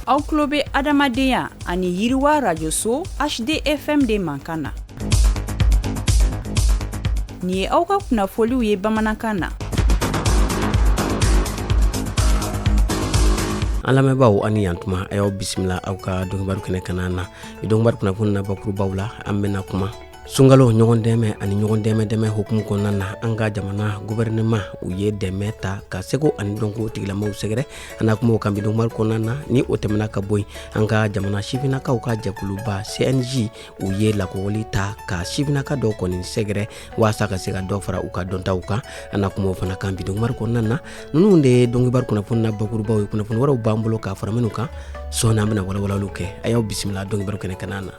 aw tulo bɛ adamadenya ani yiriwa radio so hdfm de mankan na nin ye aw ka kunnafoliw ye bamanankan na an lamɛnbaaw aw ni yantuma a y'aw bisimila aw ka donkibaru kɛnɛ kanna na ni donkibaru kunnafoni na bakurubaw la an bɛna kuma sunkalo ɲɔgɔn dɛmɛ ani ɲɔgɔn dɛmɛ hukumu kɔnɔna na an ka jamana gouvernement u ye dɛmɛ ta ka seko ani dɔnko tigilamaw sɛgɛrɛ an na kuma o kan bi donkibaru kɔnɔna na ni o tɛmɛna ka bɔ yen an ka jamana sifinnakaw ka jɛkuluba cnj u ye lakɔgɔli ta ka sifinnaka dɔw kɔni sɛgɛrɛ waasa ka se ka dɔ fara u ka dɔntaw kan an na kuma o fana kan bi donkibaru kɔnɔna na ninnu de ye donkibaru kunnafoni na bakurubaw ye kunnafoni wɛrɛw b'an bolo k'a fara minnu kan sɔɔni an bɛna walawalaliw kɛ a y'aw bisimila donkibaru kɛnɛ kanna na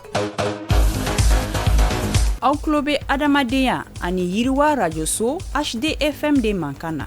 aw tulo bɛ adamadenya ani yiriwa radio so hdfm de mankan na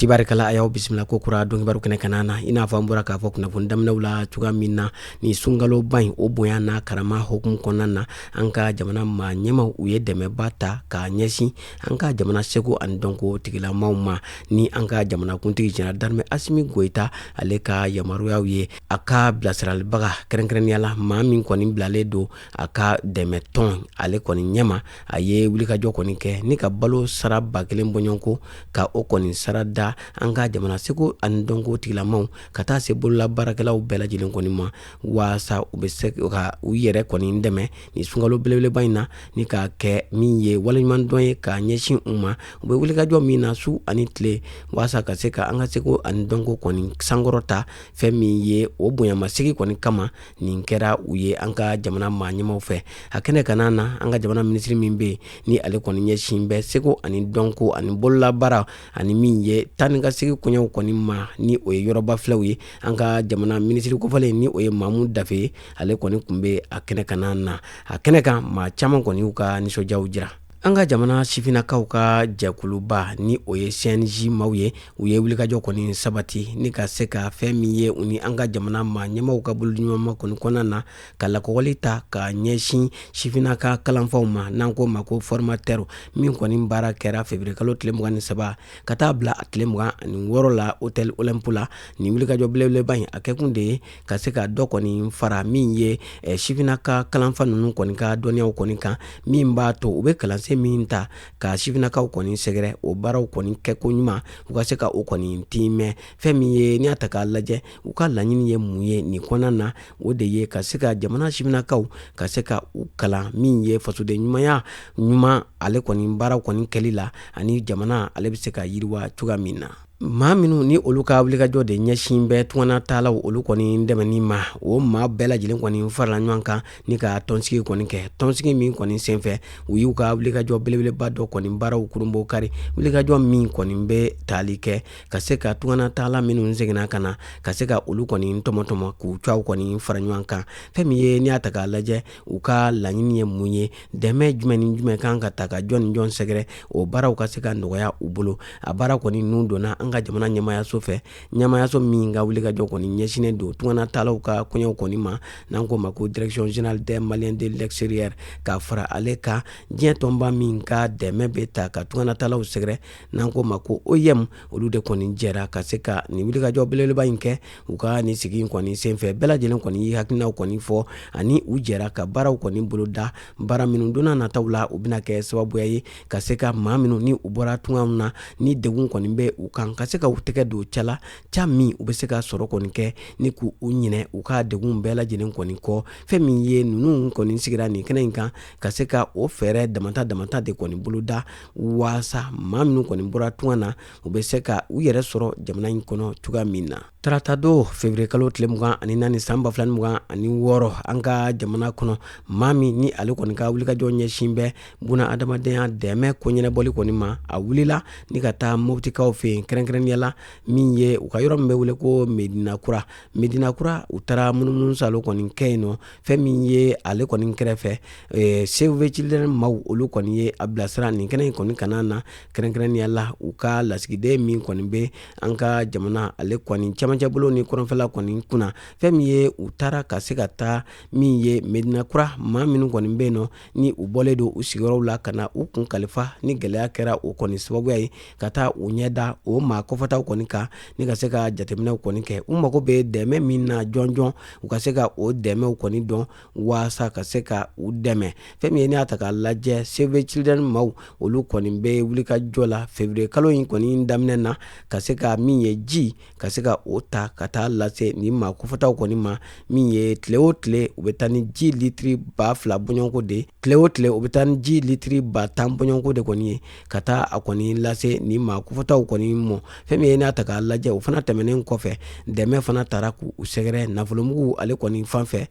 tibarikala a y'aw bisimila ko kura donkibaru kɛnɛ kanna na i n'a fɔ an bɔra k'a fɔ kunnafoni daminɛw la cogoya min na ni sunkaloba in o bonya n'a karama hukumu kɔnɔna na an ka jamana maa ɲɛmaw u ye dɛmɛba ta k'a ɲɛsin an ka jamana seko ani dɔnko tigilamaw ma ni an ka jamanakuntigi général d'armée asimi goyita ale ka yamaruyaw ye a ka bilasiralibaga kɛrɛnkɛrɛnnenya la maa min kɔni bilalen don a ka dɛmɛtɔn ale kɔni ɲɛma a ye wulikajɔ kɔni kɛ ni ka balo sara ba kelen bɔɲɔgɔnko ka o kɔni sara da an ka jamana seko ani dɔnko tigilamaw ka taa se bolola baarakɛlaw bɛɛ lajɛlen kɔni ma waasa u bɛ se ka u yɛrɛ kɔni dɛmɛ ni sunkalo belebeleba in na ni ka kɛ min ye waleɲumandɔn ye k'a ɲɛsin u ma u bɛ wulikajɔ min na su ani tile waasa ka se ka an ka seko ani dɔnko kɔni sankɔrɔta fɛn min ye o bonyamasegi kɔni kama nin kɛra u ye an ka jamana maa ɲɛmaw fɛ a kɛnɛ kanna na an ka jamana minisiri min bɛ yen ni ale kɔni ɲɛsin bɛ seko ani dɔnko ani bololabaara ani min ye taa ni ka segi koɲɛw kɔni ma ni o ye yɔrɔba filɛw ye an ka jamana minisiri kofɔlen ni o ye mamu dafe ye ale kɔni tun bɛ a kɛnɛ kanna na a kɛnɛ kan maa caman kɔni y'u ka nisɔndiyaw jira An ka jamana sifinnakaw ka jɛkuluba ni o ye CNJ maaw ye u ye wulikajɔ kɔni sabati ni ka se ka fɛn min ye u ni an ka jamana maa ɲɛmaw ka bolodiɲɔgɔnma kɔni kɔnɔna na ka lakɔgɔli ta ka ɲɛsin sifinnaka kalanfaw ma n'an k'o ma ko formateur min kɔni baara kɛra février kalo tile mugan ni saba ka taa bila a tile mugan ani wɔɔrɔ la hôtel Olympe la nin wulikajɔ belebeleba in a kɛkun de ye ka se ka dɔ kɔni fara min ye eh, sifinaka kalanfa ninnu kɔni ka dɔnniyaw kɔni kan min b'a to u bɛ kalansen min ta ka sifinakaw kɔni sɛgɛrɛ o baaraw kɔni kɛko ɲuman u ka se ka o kɔni tiimɛ fɛn min ye n'i y'a ta k'a lajɛ u ka laɲini ye mun ye nin kɔnɔna na o de ye ka se ka jamana sifinakaw ka se ka u kalan min ye fasoden ɲumanya ɲuman ale kɔni baaraw kɔni kɛli la ani jamana ale bɛ se ka yiriwa cogoya min na maa minnu ni olu ka wulikajɔ de ɲɛsin bɛ tungana taalaw olu kɔni dɛmɛni ma o maa bɛɛ lajɛlen kɔni farala ɲɔgɔn kan ni ka tɔnsigi kɔni kɛ tɔnsigi min kɔni senfɛ u y'u ka wulikajɔ belebeleba dɔ kɔni baaraw kurunbonkari wulikajɔ min kɔni bɛ tali kɛ ka se ka tungana taala minnu seginna ka na ka se ka olu kɔni tɔmɔtɔmɔ k'u cɛ kɔni fara ɲɔgɔn kan fɛn min ye n'i y'a ta k'a lajɛ u ka laɲini ye mun ye dɛmɛ jumɛn ni jumɛn kan ka ta ka jɔn ni jɔn sɛgɛrɛ o baaraw ka se ka nɔgɔya u bolo a baara kɔni nun donna an ka jamana ɲɛmayaso fɛ ɲɛmayaso min ka wulikajɔ kɔni ɲɛsinnen don tungana taalaw ka kɔɲɔw kɔni ma n'an ko ma ko direction générale des maliens de l'extérieur ka fara ale kan diɲɛ tɔnba min ka dɛmɛ bɛ ta ka tungana taalaw sɛgɛrɛ n'an ko ma ko OIM olu de kɔni jɛra ka se ka nin wulikajɔ belebeleba in kɛ u ka nin sigi kɔni senfɛ bɛɛ lajɛlen kɔni ye hakilinaw kɔni fɔ ani u jɛra ka baaraw kɔni boloda baara minnu don na nataw la u bɛna kɛ sababuya ye ka se ka maa minnu ni u bɔra tunga na ni degun kɔni bɛ u kan ka se ka u tɛgɛ don ca la ca min u bɛ se ka sɔrɔ kɔni kɛ ni k'u ɲinɛ u ka degun bɛɛ lajɛlen kɔni kɔ fɛn min ye ninnu kɔni sigira nin kɛnɛ in kan ka se ka o fɛɛrɛ damata damata de kɔni boloda waasa maa minnu kɔni bɔra tunga na u bɛ se ka u yɛrɛ sɔrɔ jamana in kɔnɔ cogoya min na tarata don février kalo tile mugan ani naani san ba fila ni mugan ani wɔɔrɔ an ka jamana kɔnɔ maa min ni ale kɔni ka wulikajɔ ɲɛsin bɛ bunadamadenya dɛmɛ ko ɲɛnɛbɔli kɔni ma a wulila ni ka taa mobitikaw fɛ yen kɛrɛnkɛrɛnnenya la min ye u ka yɔrɔ min bɛ wele ko medina kura medina kura u taara munumunu saalo kɔni kɛ yen nɔ fɛn min ye ale kɔni kɛrɛfɛ eh, Save the Children maw olu kɔni ye a bilasira nin kɛnɛ in kɔni kanna na kɛrɛnkɛrɛnnenya la u ka lasigiden min kɔni bɛ an ka jamana ale kɔni camancɛ bolo ni kɔrɔnfɛla kɔni kunna fɛn min ye u taara ka se ka taa min ye medina kura maa minnu kɔni bɛ yen nɔ ni u bɔlen don u sigiyɔrɔw la ka na u kun kalifa ni gɛlɛya kɛra o kɔni sababuya ye ka taa u ɲɛ da o maa kofɔtaw kɔni kan ni ka se ka jateminɛw kɔni kɛ u mago bɛ dɛmɛ min na jɔnjɔn u ka se ka o dɛmɛw kɔni dɔn waasa ka se ka u dɛmɛ fɛn min ye n'i y'a ta k'a lajɛ Save the Children maw olu kɔni bɛ wulikajɔ la février kalo in kɔni daminɛ na ka se ka min ye ji ka se ka o ta ka taa lase ni maa kofɔtaw kɔni ma min ye tile o tile u bɛ taa ni ji litiri ba fila bɔɲɔgɔnko de tile o tile u bɛ taa ni ji litiri ba tan bɔɲɔgɔnko de kɔni ye ka taa a kɔni lase ni maa kofɔtaw kɔni mɔ fɛn min ye n'a ta k'a lajɛ o fana tɛmɛnen kɔfɛ dɛmɛ fana taara k'u sɛgɛrɛ nafolomugu ale kɔni fan fɛ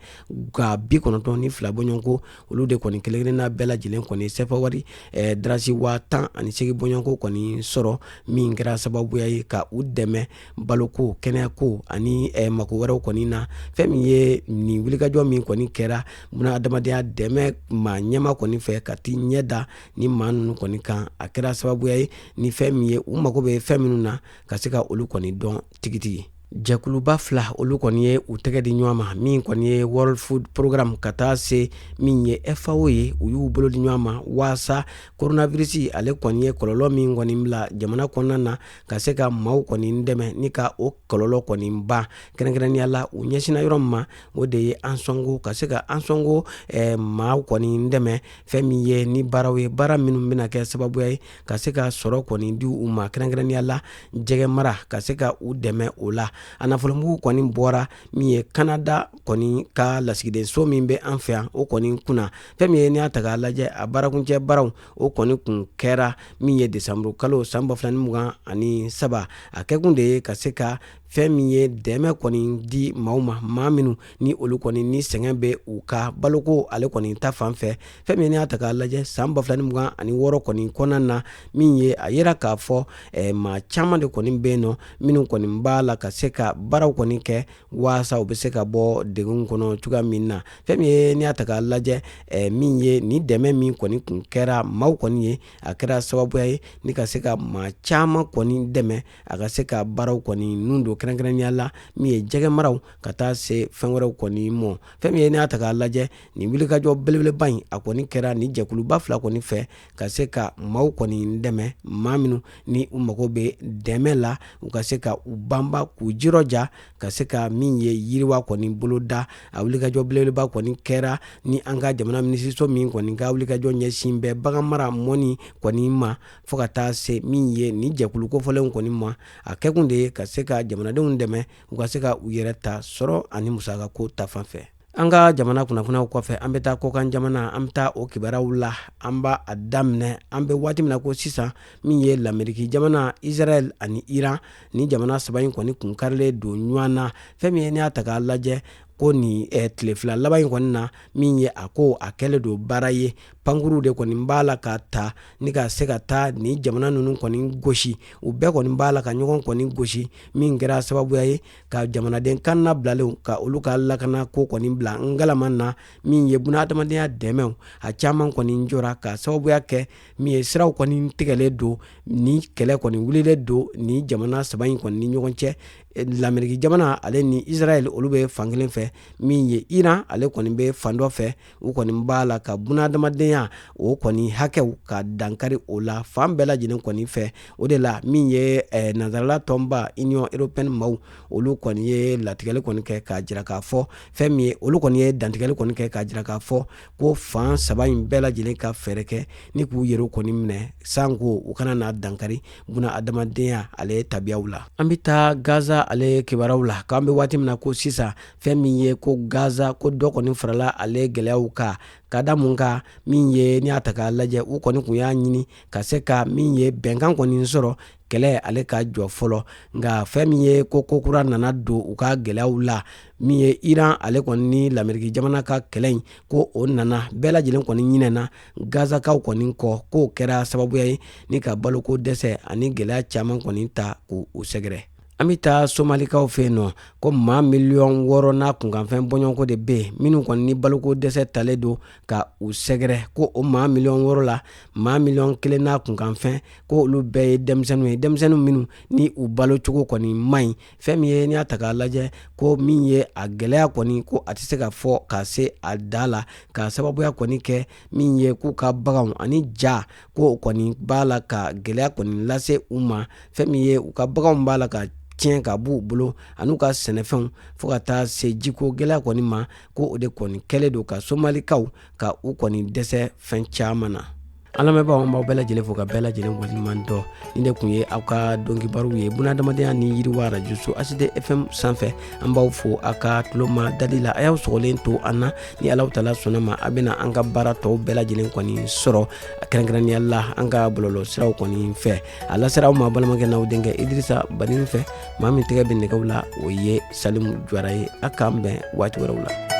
ga bi kɔnɔntɔn ni fila bɔɲɔgɔnko olu de kɔni kelenkelenna bɛɛ lajɛlen kɔni sɛfa wari eh, darasi waa tan ani segi bɔɲɔgɔnko kɔni sɔrɔ min kɛra sababuya ye ka u dɛmɛ baloko kɛnɛyako ani eh, mako wɛrɛw kɔni na fɛn min ye nin wulikajɔ min kɔni kɛra buna adamadenya dɛmɛ maa ɲɛmaa kɔni fɛ ka t'i ɲɛ da ni maa ninnu kɔni kan a kɛra sababuya ye ni fɛn min ye u mago bɛ fɛn minnu na ka se ka olu kɔni dɔn tigitigi jɛkuluba fila olu kɔni ye u tɛgɛ di ɲɔgɔn ma min kɔni ye world food program ka taa se min ye fao ye u y'u bolo di ɲɔgɔn ma waasa koronavirisi ale kɔni ye kɔlɔlɔ min kɔni bila jamana kɔnɔna na ka se ka maaw kɔni dɛmɛ ni ka o kɔlɔlɔ kɔni ban kɛrɛnkɛrɛnya la u ɲɛsinna yɔrɔ min ma o de ye ansɔngo ka se ka ansɔngo eh, maaw kɔni dɛmɛ fɛn min ye ni baaraw ye baara minnu bɛna kɛ sababuya ye ka se ka sɔrɔ kɔni di u ma kɛrɛnkɛrɛnya la jɛgɛ mara ka se ka u dɛmɛ o la a nafolomugu kɔni bɔra min ye kanada kɔni ka lasigidenso min bɛ an fɛ yan o kɔni kunna fɛn min ye n'i y'a ta k'a lajɛ a baarakuncɛ baaraw o kɔni kun kɛra min ye desanburu kalo san ba fila ni mugan ani saba a kɛkun de ye ka se ka fɛn min ye dɛmɛ kɔni di maaw ma maa minnu ni olu kɔni ni sɛgɛn bɛ u ka baloko ale kɔni ta fan fɛ fɛn min ye n'i y'a ta k'a lajɛ san 2026 kɔni kɔnɔna na min ye a yira k'a fɔ eh, maa caman de kɔni bɛ yen nɔ minnu kɔni b'a la ka se ka baaraw kɔni kɛ waasa u bɛ se ka bɔ degun kɔnɔ cogoya min na fɛn min ye n'i y'a ta k'a lajɛ eh, min ye ni dɛmɛ min kɔni kun kɛra maaw kɔni ye a kɛra sababuya ye ni ka se ka maa caman kɔni dɛmɛ a ka se ka baaraw kɔni ninnu don kɛrɛnkɛrɛnya la min ye jɛgɛ maraw ka taa se fɛn wɛrɛw kɔni mɔ fɛn min ye n'a ta k'a lajɛ nin wulikajɔ belebeleba in a kɔni kɛra ni jɛkuluba fila kɔni fɛ ka se ka maaw kɔni dɛmɛ maa minnu ni u mago bɛ dɛmɛ la u ka se ka u banba k'u jirɔja ka se ka min ye yiriwa kɔni boloda a wulikajɔ belebeleba kɔni kɛra ni an ka jamana minisiriso min kɔni ka wulikajɔ ɲɛsin bɛ bagan mara mɔni kɔni ma fo ka taa se min ye ni jɛkulu kofɔlenw kɔni ma a kɛkun de ye ka se ka jamanadenw dɛmɛ u ka se ka u yɛrɛ ta sɔrɔ ani musakako ta fan fɛ an ka jamana kunnafoniyaw kɔfɛ an bɛ taa kɔkan jamana an bɛ taa o kibaruyaw la an b'a daminɛ an bɛ waati min na ko sisan min ye lameriki jamana israɛl ani iran ni jamana saba in kɔni kun karilen don ɲɔgɔn na fɛn min ye n'i y'a ta k'a lajɛ ko nin eh, tile fila laban in kɔni na min ye a ko a kɛlen don baara ye pankurun de kɔni b'a la ka ta ni ka se ka taa ni jamana ninnu kɔni gosi u bɛɛ kɔni b'a la ka ɲɔgɔn kɔni gosi min kɛra sababuya ye ka jamanaden kan labilalen ka olu ka lakana ko kɔni bila ngalama na min ye bunadamadenya dɛmɛw a caman kɔni jɔra ka sababuya kɛ min ye siraw kɔni tigɛlen don ni kɛlɛ kɔni wulilen don ni jamana saba in kɔni ni ɲɔgɔn cɛ lameriki jamana ale ni israɛl olu bɛ fan kelen fɛ min ye iran ale kɔni bɛ fan dɔ fɛ u kɔni b'a la ka bunadamadenya o kɔni hakɛw ka dankari o la fan bɛɛ lajɛlen kɔni fɛ o de la min ye eh, nanzarala tɔnba union européenne maaw olu kɔni ye latigɛli kɔni kɛ k'a jira k'a fɔ fɛn min ye olu kɔni ye dantigɛli kɔni kɛ k'a jira k'a fɔ ko fan saba in bɛɛ lajɛlen ka fɛɛrɛ kɛ ni k'u yɛrɛw kɔni minɛ sanko u kana na dankari buna adamadenya ale tabiyaw la an bɛ taa gaza ale kibaruyaw la k'an bɛ waati min na ko sisan fɛn min ye ko gaza ko dɔ kɔni farala ale gɛlɛyaw kan ka da mun kan min ye n'i y'a ta k'a lajɛ u kɔni kun y'a ɲini ka se ka min ye bɛnkan kɔni sɔrɔ kɛlɛ ale ka jɔ fɔlɔ nka fɛn min ye ko ko kura nana don u ka gɛlɛyaw la min ye iran ale kɔni ni lameriki jamana ka kɛlɛ in ko o nana bɛɛ lajɛlen kɔni ɲinɛna gazakaw kɔni kɔ k'o kɛra sababuya ye ni ka baloko dɛsɛ ani gɛlɛya caman kɔni ta k'u sɛgɛrɛ an bɛ taa somalikaw fɛ yen nɔ ko maa miliyɔn wɔɔrɔ n'a kunkanfɛn bɔɲɔgɔnko de bɛ yen minnu kɔni ni baloko dɛsɛ talen don ka u sɛgɛrɛ ko o maa miliyɔn wɔɔrɔ la maa miliyɔn kelen n'a kunkanfɛn ko olu bɛɛ ye denmisɛnninw ye denmisɛnninw minnu ni u balo cogo kɔni man ɲi fɛn min ye n'i y'a ta k'a lajɛ ko min ye a gɛlɛya kɔni ko a tɛ se ka fɔ ka se a da la ka sababuya kɔni kɛ min ye k'u ka baganw ani ja ko kɔni b'a la ka gɛlɛya kɔni lase u ma fɛn min ye u ka baganw b'a la ka tiɲɛ ka b'u bolo an'u ka sɛnɛfɛnw fo ka taa se jiko gɛlɛya kɔni ma ko o de kɔni kɛlen don ka somalikaw ka u kɔni dɛsɛ fɛn caaman na an lamɛnbaaw an b'aw bɛɛ lajɛlen fo ka bɛɛ lajɛlen waleɲuman dɔn nin de kun ye aw ka dɔn kibaru ye bunadamadenya ni yiriwa rajoso hd fm sanfɛ an b'aw fo aw ka tuloma dali la a y'aw sɔgɔlen to an na ni alahu taala sɔnn'a ma a bɛna an ka baara tɔw bɛɛ lajɛlen kɔni sɔrɔ kɛrɛnkɛrɛnnenya la an ka bɔlɔlɔ siraw kɔni fɛ a lasera aw ma balimakɛ n'aw denkɛ idrisa banin fɛ maa min tɛgɛ bɛ nɛgɛw la o ye salimu juwara ye a k'an bɛn waati wɛrɛw la